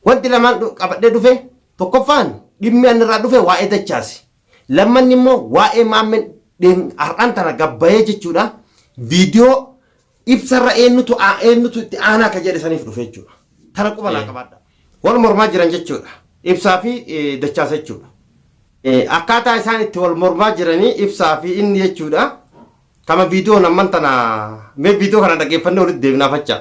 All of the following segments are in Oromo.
Wanti lamaan qabadhee dhufe tokkoffaan dhimmi an irraa dhufe waa'ee dachaasi. Lammanni immoo waa'ee maammeen har'aan tana gabbayee jechuudha viidiyoo ibsarra eenyutu eenyutu itti aanaa akka jedhe saniif dhufe jechuudha. Tana quba naa qabaadha. Wal mormaa jiran jechuudha. Ibsaa fi dachaasa jechuudha. Akkaataa isaan itti wal mormaa jiranii ibsaa fi inni jechuudha. Kama viidiyoon amman tana mee viidiyoo kana dhaggeeffannee walitti deebinaa fachaa.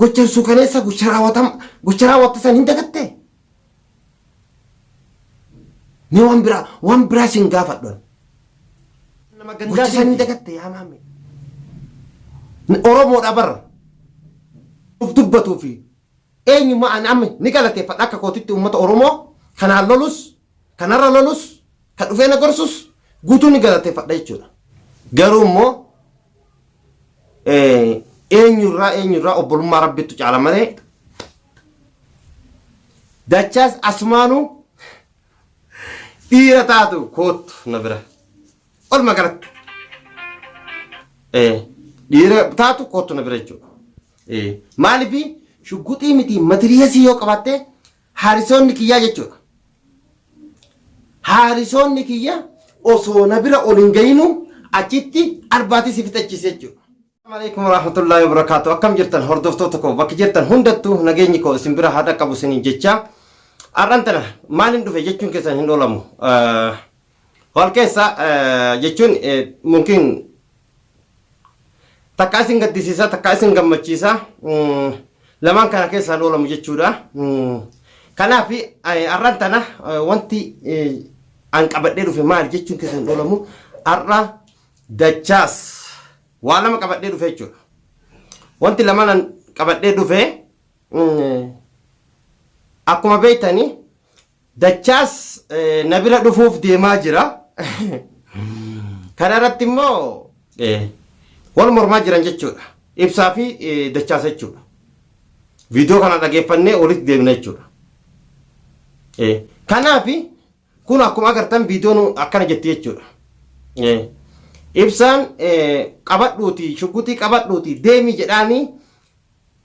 Gochan suukaneessaa gocha raawwatama gocha raawwatte san hin dagattee? Mee waan biraa waan biraa sin gaafadhu ani. Nama Gocha gandaa san hin miti. dagatte yaa maamee. Oromoodha bar. Of dubbatuu fi eenyummaa ani amma ni galateeffadha akka kootitti uummata Oromoo kanaan lolus Ka narra lolus, ka dhufee na gorsus guutuun ni galateeffadha jechuudha. Garuu immoo eh, eenyurraa eenyurraa obbolummaa rabbittu caala malee dachaas asumaanuu dhiira taatu koottu na bira. Walumaa galatti eh, dhiira taatu koottu na bira jechuudha. Eh, Maaliif shugguxii miti matiriyeesii yoo qabaatte Haarisoonni kiyyaa jechuudha. Haarisoonni kiyya osoo na bira ol hin gayinuu achitti arbaatii si fixachiise jechuudha. Assalamualaikum warahmatullahi wabarakatuh. Akkam jirtan hordoftoota koo bakki jirtan hundattuu nageenyi koo isin bira haa dhaqqabu isiniin jecha har'an tana maaliin dhufe jechuun keessan hin oolamu. Hol keessa jechuun mungkin takka isin gaddisiisa takka isin gammachiisa lamaan kana keessaa loolamu jechuudha. Kanaaf har'aan tana wanti an qabadhee dhufe maal jechuun keessan loolamu har'a dachaas waa lama qabadhee dhufe jechuudha. Wanti lamaan an qabadhee dhufe akkuma beektanii Dachaas na bira dhufuuf deemaa jira. Kana irratti immoo wal mormaa jiran jechuudha. Ibsaa fi dachaas jechuudha. Viidiyoo kana dhageeffannee walitti deebina jechuudha. Kanaaf kun akkuma agartan viidiyoon akkana jetti jechuudha. Ibsaan qabadhuuti shugguxii qabadhuuti deemi jedhaanii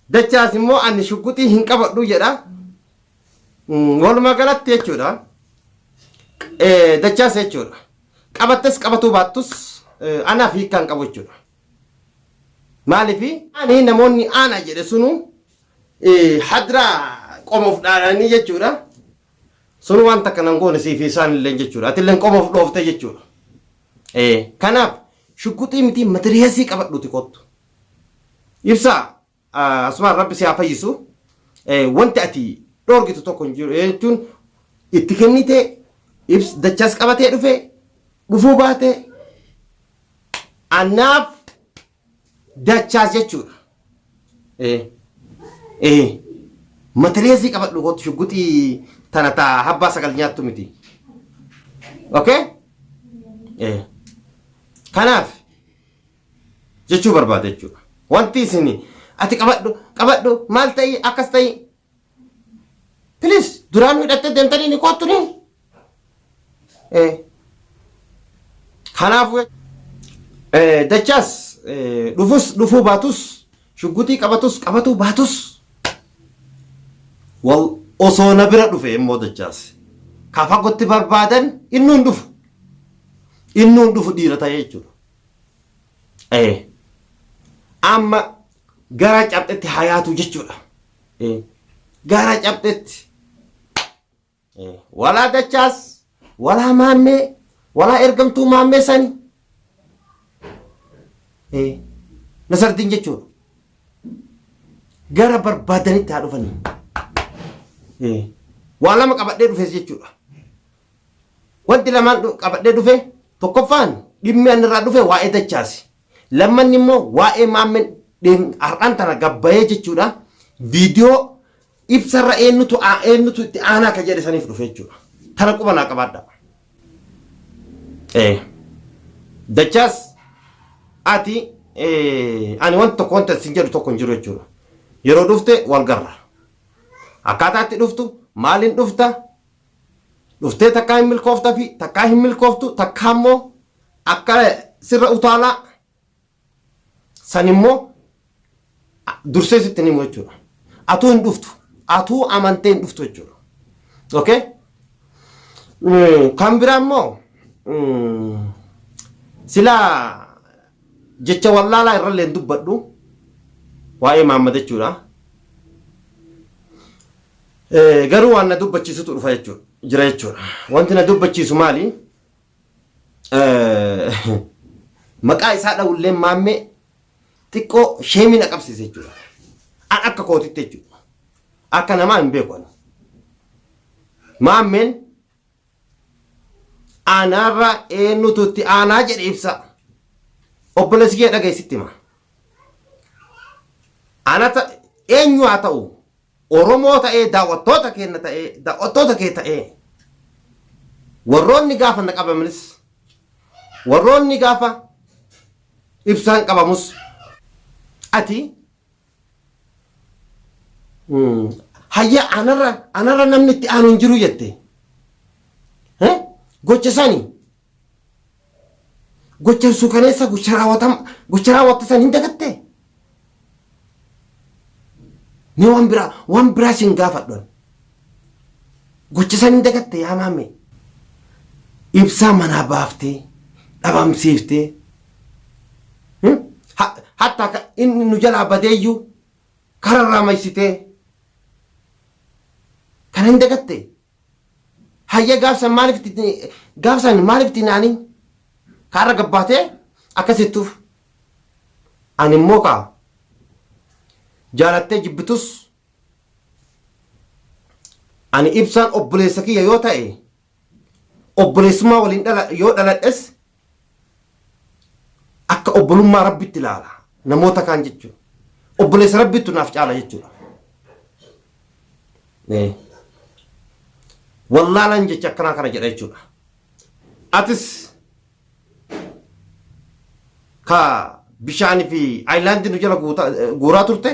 dachaas immoo ani shugguxii hin qabadhu jedha. Walumaa galatti jechuudha. Dachaas jechuudha. Qabattes qabatuu baattus anaaf hiikkaa hin qabu jechuudha. Maaliif ani namoonni aanaa jedhe sunu hadraa qomoof dhaadhanii jechuudha. Sun waan takka nan goone siif isaan illee jechuudha. Ati illee qomoof dhooftee jechuudha. Kanaaf shugguxii miti matiriyeesii qabadhuuti kottu. Ibsaa. Asumaan rabbi si haa fayyisu wanti ati dhoorgitu tokko hin jiru jechuun itti kennite ibs dachaas qabatee dhufe dhufuu baate anaaf dachaas jechuudha. Matireesii qabadhu kootu shugguxii tana taa habbaa sagal nyaattu miti. Okay? Kanaaf jechuu barbaada jechuudha. Wanti isin ati qabadhu qabadhu maal ta'i akkas ta'i. Please duraan hidhattee deemtanii ni koottu ni. Eh. Kanaafuu eh, dachaas eh, dhufus dhufuu baatus shugguxii qabatus qabatuu baatus wal osoo na bira dhufe immoo dachaas ka fagootti barbaadan inni hin dhufu inni hin dhufu dhiira ta'ee jechuudha Eh. Amma gara cabxetti hayaatu jechuudha. Eh. Gara cabxetti. Eh. Walaa dachaas, walaa maammee, walaa ergamtuu maammee sani. Eh. Nasardiin jechuudha. Gara barbaadanitti haa dhufanii. Eh. Waa lama qabadhee dhufes jechuudha. Wanti lamaan dhu- qabadhee dhufe tokkoffaan dhimmi ani irraa dhufe waa'ee dachaasi. Lammanni immoo waa'ee maammeen dheen- har'aan tana gabbayee jechuudha. Viidiyoo ibsarra eenyutu aa- eenyutu itti aanaa akka jedhe saniif dhufe jechuudha. Tana quba naa qabaadha. Eh. Dachaas ati eh, ani wanta tokko wanta isin jedhu tokko hin jiru jechuudha. Yeroo dhufte wal garra. Akkaataa itti dhuftu maaliin dhufta Dhuftee takkaa hin milkooftafi takkaa hin milkooftu takkaa immoo akka sirra utaalaa san immoo dursee sitti hin himu jechuudha. Atuu hin dhuftu. Atuu amantee hin dhuftu jechuudha. Okay? Mm, Kan biraa immoo mm, sila jecha wallaalaa irrallee hin dubbadhu waa'ee Mahammad jechuudha. Garuu waan na dubbachiisutu dhufa jechuudha. Jira jechuudha. Wanti na dubbachiisu maali? Maqaa isaa dhawulleen maammee xiqqoo sheemii na qabsiise jechuudha. An akka kootitti jechuudha. Akka namaa hin beeku ani. Maammeen Anaarra eenyutu itti aanaa jedhe ibsa. Obboleessi kiyya dhaga'i sitti hima. Ana ta eenyu haa ta'u Oromoo ta'ee daawwattoota keenya ta'ee daawwattoota kee ta'ee warroonni gaafa na qabamanis warroonni gaafa ibsaan qabamus ati Hayya anarra anarra namni itti aanu hin jiru jette. Eh? Gocha sani gocha suukaneessa gocha raawwatam gocha raawwatte san hin dagatte. Ni waan biraa waan biraa sin gaafadhan. Gocha san hin dagatte yaa maame. Ibsaa manaa baaftee dhabamsiiftee hmm? Ha- hatta ka inni nu jalaa badeeyyuu kararraa maysitee kana hin dagatte. Hayya gaafsan maaliif itti gaafsan maaliif itti naanii kaarra gabbaatee akkasittuuf ani immoo kaa jaalattee jibbitus Ani ibsaan obboleessa kiyya yoo ta'e obboleessummaa waliin dhala yoo dhaladhes akka obbolummaa rabbitti ilaala namoota kaan jechuudha. Obboleessa rabbittu naaf caala jechuudha. Ee. Wallaalaan jecha akkanaa kana jedha jechuudha. Atis ka bishaanii fi aayilaandii nu jala guuta- guuraa turte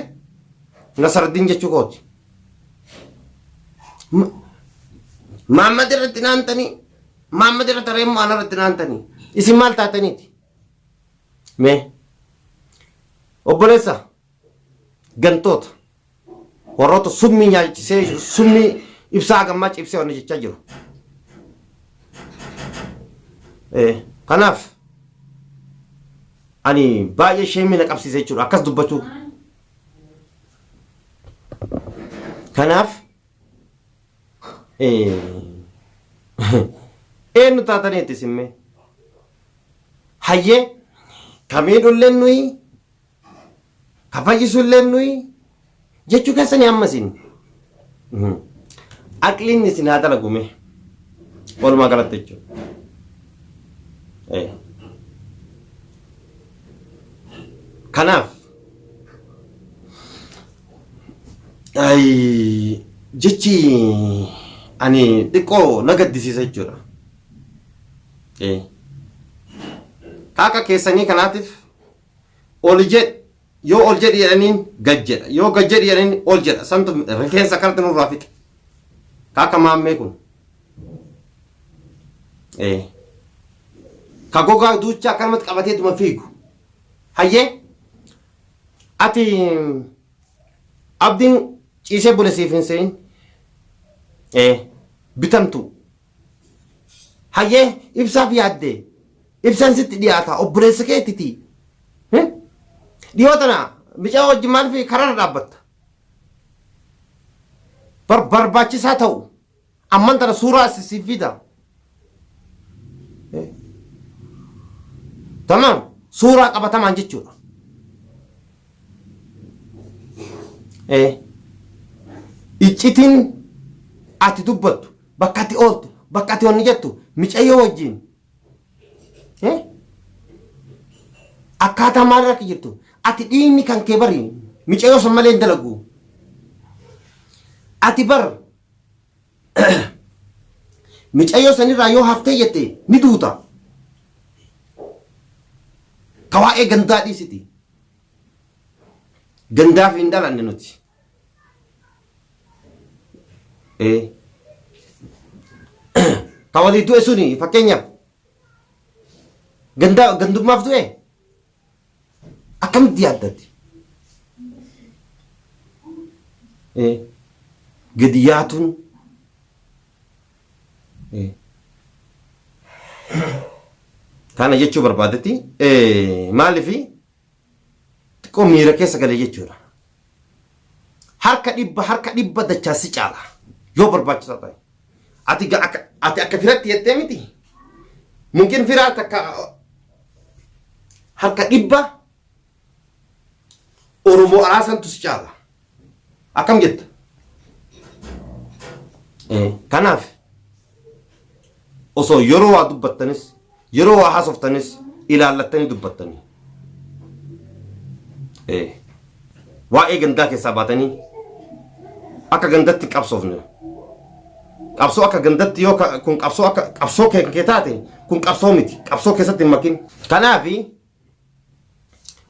Nasardiin jechuu kooti. M- Maammad irratti naantanii Maammad irratti haree immoo ana irratti naantanii isin maal taataniiti? Mee obboleessa gantoota. Warroota summii nyaachisee summii ibsaa gammaa cibsee wanni jechaa jiru. Kanaaf ani baay'ee sheemii na qabsiise jechuudha akkas dubbachuu. Kanaaf eenyu taatanii itti simmee hayyee kamiidhullee nuyi Ka fayyisu illeen nuyi jechuu keessanii amma isin. Mhm. Aqliin isin haa dalagume. Walumaa galatti jechuudha. Eh. Kanaaf Ay, jechi ani xiqqoo na gaddisiisa jechuudha. Eh. Ka akka keessanii kanaatiif oli jedhi yoo ol jedhi jedhaniin gad jedha yoo gad jedhi jedhaniin ol jedha santu rifeensa akkanatti nurraa fixe ka akka maammee kun ee ka gogaa duuchaa akkanumatti qabateetuma fiigu hayyee ati abdiin ciisee bule siif hin se'in ee bitamtuu Hayyee ibsaaf yaadde ibsan sitti dhiyaata obboleessa keettiti. Dhiyoo tana micaa wajjin maaliif kararra dhaabbatta? Bar barbaachisaa ta'u amman tana suuraa asi siif fida. Tamam suuraa qabatamaan jechuudha. Iccitiin ati dubbattu Bakka ati ooltu, bakka ati wanni jettu micayyoo wajjin eh, akkaataa maal irra akka jirtu ati dhiigni kan kee bari micayyoo san malee hin dalagu. Ati bar micayyoo sanirraa yoo haftee jette ni duuta. Tawaa'ee gandaa dhiisiti. Gandaaf hin dhalanne nuti. ee ka walii du'e suni fakkeenyaaf gandaa gandummaaf du'e akkamitti yaaddatti ee gadi yaatuun ee kana jechuu barbaadetti ee maalifi Xiqqoo miira keessa galee jechuudha. Harka dhibba harka dhibba dachaa si caala yoo barbaachisaa ta'e. Ati ga- akka ati akka firatti jettee miti. Mungkin firaa takka harka dhibba Oromoo araasantu si caala. Akkam jetta? Eh, Kanaaf osoo yeroo waa dubbattanis yeroo waa haasoftanis ilaallattanii dubbattanii Eh, waa'ee gandaa keessaa baatanii akka gandatti qabsoofne qabsoo akka gandatti yoo ka- kun qabsoo akka qabsoo kee kee taate kun qabsoo miti qabsoo keessatti hin makin kanaafi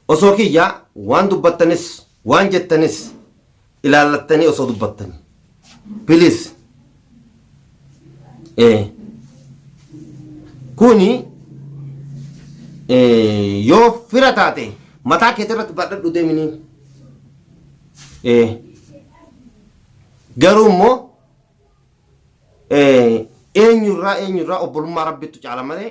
Osoo kiyya waan dubbattanis waan jettanis ilaallattanii osoo dubbattanii. Please. Eh. Kuni eh, yoo fira taate mataa keetii irratti badhadhu deeminii. Eh. Garuu immoo eh, eenyurraa eenyurraa obbolummaa rabbiitu caala malee